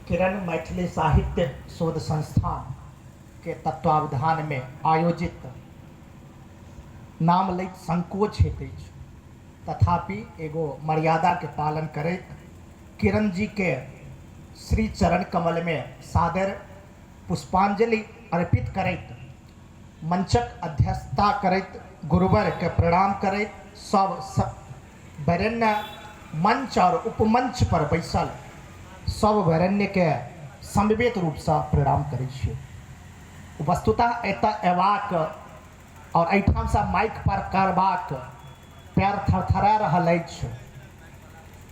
किरण मैथिली साहित्य शोध संस्थान के तत्वावधान मे आयोजित नाम लैत संकोच होइत अछि तथापि एगो मर्यादा के पालन करैत किरण जी के श्री चरण कमल मे सादर पुष्पांजलि अर्पित करैत मंचक अध्यक्षता करैत गुरुवर के प्रणाम करैत सब वरेण्य मंच और उपमंच पर बैसल सब वरेण्य के समवेत रूप स प्रणाम करै छी। वस्तुतः एतय अयबाक और एहिठाम स माइक पार करबाक पैर थरथरा रहल अछि।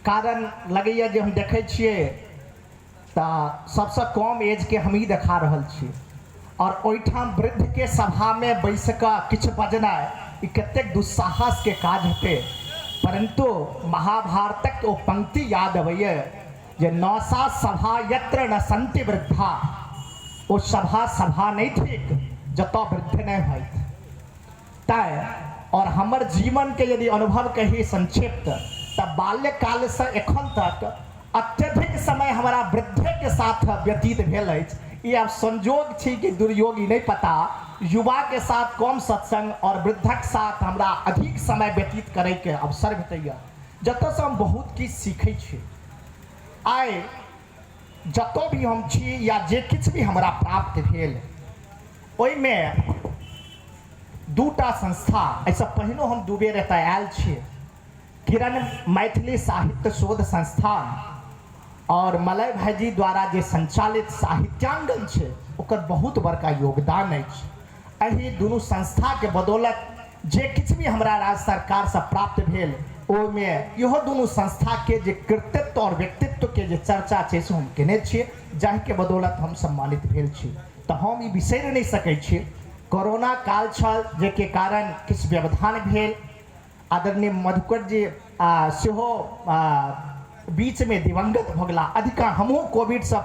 कारण लगैए जे हम देखै छियै। त सबसँ कम एज के हमही देखा रहल छी और ओहिठाम वृद्ध के सभा मे बैसि क किछु बजनाय ई कतेक दुस्साहस के काज हेतै। परन्तु महाभारतक ओ पंक्ति याद अबैए जे न सा सभा यत्र न सन्ति वृद्धाः ओ सभा सभा नहि थिक जतय वृद्ध नहि होथि। तैं और हमर जीवन के यदि अनुभव कही संक्षिप्त त बाल्य काल स एखन तक अत्यधिक समय हमरा वृद्धे के साथ व्यतीत भेल अछि। ई आब संजोग छी कि दुर्योग ई नहि पता। युवा के साथ कम सत्संग और वृद्धक साथ हमरा अधिक समय व्यतीत करय के अवसर भेटैए जतय स हम बहुत किछु सीखय छी। आइ। जतऽ भी हम छी या जे किछु भी हमरा प्राप्त भेल ओहिमे दूटा संस्था एहिसँ पहिनो हम दू बेर एतऽ आयल छी किरण मैथिली साहित्य शोध संस्थान आओर मलय भाईजी द्वारा जे संचालित साहित्यांगन छै ओकर बहुत बड़का योगदान अछि एहि दुनू संस्था के बदौलत जे किछु भी हमरा राज्य सरकार सँ प्राप्त भेल ओहि मे इहो दुनू संस्था के जे कृतित्व और व्यक्तित्व के जे चर्चा छै से हम केने छियै जाहि के बदौलत हम सम्मानित भेल छी त हम ई बिसरि नहि सकै छी कोरोना काल छल जाहि के कारण किछु व्यवधान भेल आदरणीय मधुकर जी सेहो बीचमे दिवंगत भऽ गेला अधिका हमहूँ कोविडसँ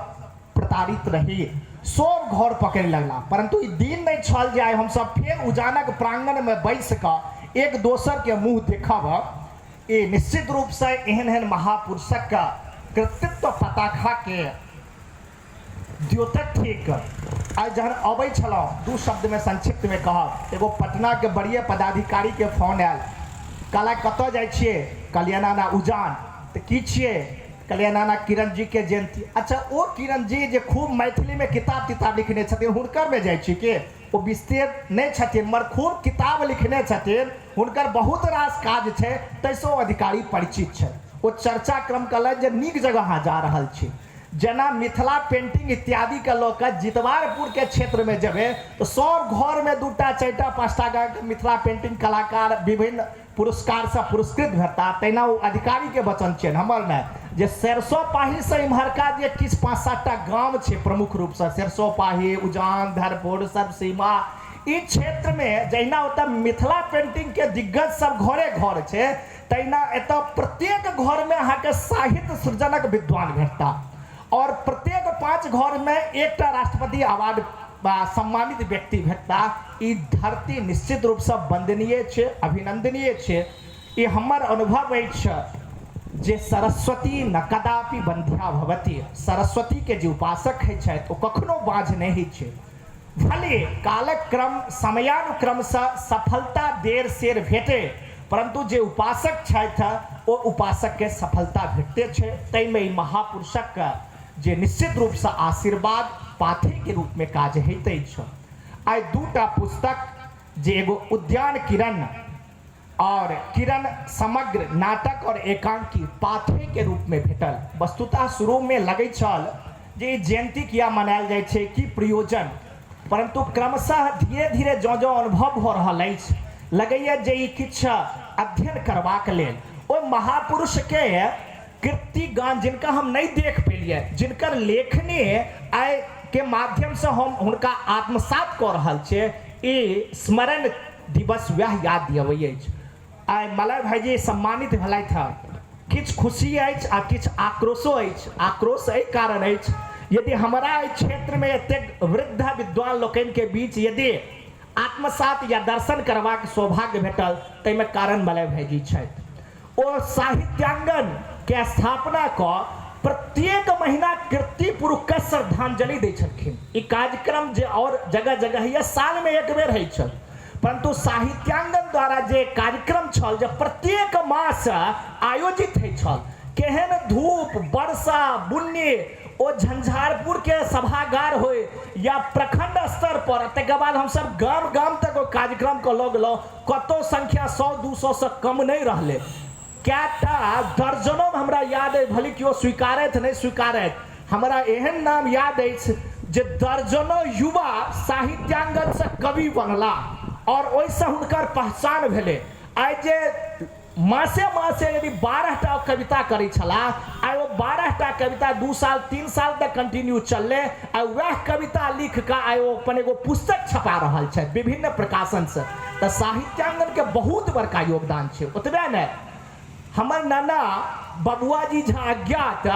प्रताड़ित रही सभ घर पकड़ि लगला परन्तु ई दिन नहि छल जे आइ हमसभ फेर उजानक प्राङ्गणमे बैसि कऽ एक दोसरके मुँह देखब ई निश्चित रूपसँ एहन एहन महापुरुषक कृतित्व पताखाके द्योतक ठीक आइ जहन अबै छलहुँ दू शब्दमे संक्षिप्तमे कहब एगो पटनाके बड़िए पदाधिकारीके फोन आयल कहला कतऽ जाइ छियै कहलियै नाना उजान तऽ की छियै कहलियै नाना किरण जीके जयन्ती अच्छा ओ किरण जी जे खूब मैथिलीमे किताब तिताब लिखने छथिन हुनकरमे जाइ छियै कि ओ विस्तेर नहि छथिन मगर खूब किताब लिखने छथिन हुनकर बहुत रास काज छै ताहिसँ ओ अधिकारी परिचित छथि ओ चर्चा क्रम कहलथि जे नीक जगह अहाँ जा रहल छी जेना मिथिला पेंटिंग इत्यादि के लऽ कऽ जितवारपुर के क्षेत्र मे जेबै तऽ सभ घर मे दू टा, चारि टा, पाँच टा कऽ मिथिला पेंटिंग कलाकार विभिन्न पुरस्कार सँ पुरस्कृत भेटताह। तहिना ओ अधिकारी के वचन छियनि, हमर नहि, जे सरिसोपाही सँ इम्हरका जे किछु पाँच सात टा गाम छै प्रमुख रूप सँ सरिसोपाही, उजान, धरपुर, सरसीमा ई क्षेत्र मे जहिना ओतय मिथिला पेंटिंग के दिग्गज सभ घरे घर छै, तहिना एतय प्रत्येक घरमे अहाँके साहित्य सृजनक विद्वान भेटताह आओर प्रत्येक पाँच घरमे एकटा राष्ट्रपति अवार्ड वा सम्मानित व्यक्ति भेटताह। ई धरती निश्चित रूपसँ वन्दनीय अछि, अभिनन्दनीय अछि। ई हमर अनुभव अछि जे सरस्वती न कदापि वन्ध्या भवति। सरस्वतीके जे उपासक होइत छथि ओ कखनो बाँझ नहि होइत छथि। भले कालक क्रम समयानुक्रमसँ सफलता देर-सेर भेटए परन्तु जे उपासक छथि ओ उपासककेँ सफलता भेटिते छै। ताहिमे एहि महापुरुषक जे निश्चित रूपसँ आशीर्वाद पाथेके रूपमे काज होइत अछि। आइ दू टा पुस्तक जे एगो उद्यान किरण। आओर किरण समग्र नाटक आओर एकांकी पाथेय के रूप मे भेटल। वस्तुतः शुरू मे लगैत छल जे ई जयंती किया मनायल जाइत छैक, की प्रयोजन? परन्तु क्रमशः धीरे-धीरे जँ-जँ अनुभव भऽ रहल अछि, लगैए जे ई किछु अध्ययन करबाक लेल, ओहि महापुरुष के कृतिगान जिनका हम नहि देख पेलियनि, जिनकर लेखनी आइ के माध्यम सँ हम हुनका आत्मसात कऽ रहल छियनि, ई स्मरण दिवस वएह याद दिअबै अछि। आइ मलय भाइजी सम्मानित भेलथि हँ। किछु खुशी अछि आ किछु आक्रोशो अछि। आक्रोश एहि कारण अछि यदि हमरा एहि क्षेत्र मे एतेक वृद्ध विद्वान लोकनि के बीच यदि आत्मसात या दर्शन करबाक सौभाग्य भेटल ताहि मे कारण मलय भाइजी छथि। ओ साहित्यांगन केँ स्थापना कऽ प्रत्येक महिना कीर्ति पुरुख केँ श्रद्धांजलि दै छलखिन। ई कार्यक्रम जे आओर जगह-जगहिये साल मे एक बेर होइत छल, परन्तु साहित्यांगन द्वारा जे कार्यक्रम छल जे प्रत्येक मास आयोजित होइत छल, केहेन धूप, वर्षा, बुन्नी, ओ झंझारपुर के सभागार होय या प्रखंड स्तर पर, तकर बाद हम सब गाम-गाम तक ओहि कार्यक्रम केँ लऽ गेलहुँ। कतहु संख्या सौ दू सौ सँ कम नहि रहलै। कए टा दर्जनोमे हमरा याद अछि भली कियो स्वीकारथि नहि स्वीकारथि। हमरा एहन नाम याद अछि जे दर्जनो युवा साहित्यांगनसँ कवि बनलाह आओर ओहिसँ हुनकर पहचान भेलै। आइ जे। मासे मासे यदि बारह टा ओ कविता करै छलाह आइ ओ बारह टा कविता दू साल तीन साल तक कंटिन्यू चललै आइ वैह कविता लिख कऽ आइ ओ अपन एगो पुस्तक छपा रहल छथि विभिन्न प्रकाशन सँ तऽ साहित्यांगन के बहुत बड़का योगदान छै ओतबे नहि हमर नाना बबुआ जी झा अज्ञात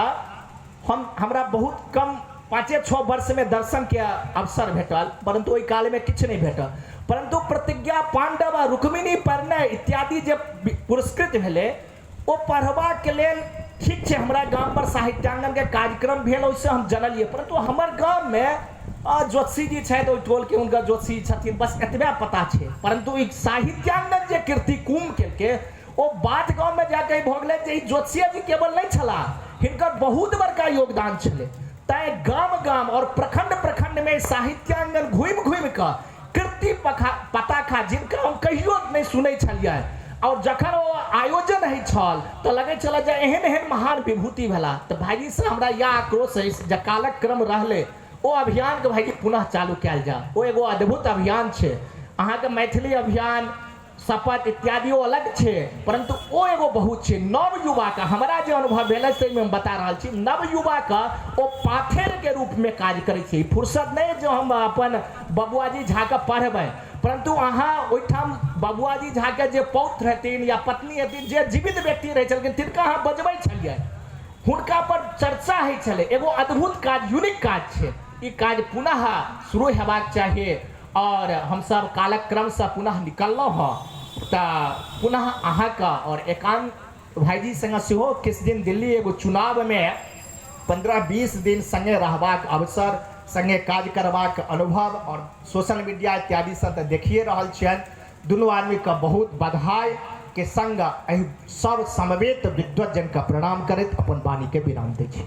हम हमरा बहुत कम पाँचे छओ वर्षमे दर्शनके अवसर भेटल परन्तु ओहि कालमे किछु नहि भेटल परन्तु प्रतिज्ञा पाण्डव आ रुक्मिणी परिणय इत्यादि जे पुरस्कृत भेलै ओ पढ़बाके लेल ठीक छै हमरा गाम पर साहित्याङ्गनके कार्यक्रम भेल ओहिसँ हम जनलियै परन्तु हमर गाममे ज्योतिषी जी छथि ओहि टोलके हुनकर ज्योतिषी छथिन बस एतबे पता छै परन्तु ई साहित्याङ्गन जे कृति कुम्भ केलकै ओ बात गाममे जा कहि भऽ गेलै जे ई ज्योतिषीजी केवल नहि छलाह हिनकर बहुत बड़का योगदान छलै तैँ गाम गाम आओर प्रखंड प्रखंडमे साहित्यांगन घुमि घुमि कऽ कृति पखा पताखा जिनका हम कहियो नहि सुनै छलियनि आओर जखन ओ आयोजन होइ छल तऽ लगै छलए जे एहन एहन महान विभूति भेला तऽ भाइजीसँ हमरा इएह आक्रोश अछि जे कालक क्रम रहलै ओ अभियानके भाइजी पुनः चालू कयल जाय ओ एगो अद्भुत अभियान छै अहाँके मैथिली अभियान शपथ इत्यादि ओ अलग छै परन्तु ओ एगो बहुत छै नव युवा के हमरा जे अनुभव भेल अछि ताहि मे हम बता रहल छी नव युवा के ओ पाथेर के रूप मे काज करै छै ई फुर्सत नहि अछि जे हम अपन बबुआ जी झा के पढ़बनि परन्तु अहाँ ओहिठाम बबुआ जी झा के जे पौत्र हेथिन या पत्नी हेथिन जे जीवित व्यक्ति रहै छलखिन तिनका अहाँ बजबै छलियनि हुनका पर चर्चा होइ छलै एगो अद्भुत काज यूनिक काज छै ई काज पुनः शुरू हेबाक चाही आओर हम सभ कालक्रमसँ पुनः निकललहुँ हँ तऽ पुनः अहाँके आओर एकान्त भाइजी सङ्गे सेहो किछु दिन दिल्ली एगो चुनावमे पन्द्रह बीस दिन सङ्गे रहबाक अवसर सङ्गे काज करबाक अनुभव आओर सोशल मीडिया इत्यादिसँ तऽ देखिये रहल छियनि दुनू आदमीके बहुत बधाइके सङ्ग एहि सभ समवेत विद्वतजनके प्रणाम करैत अपन वाणीके विराम दै छी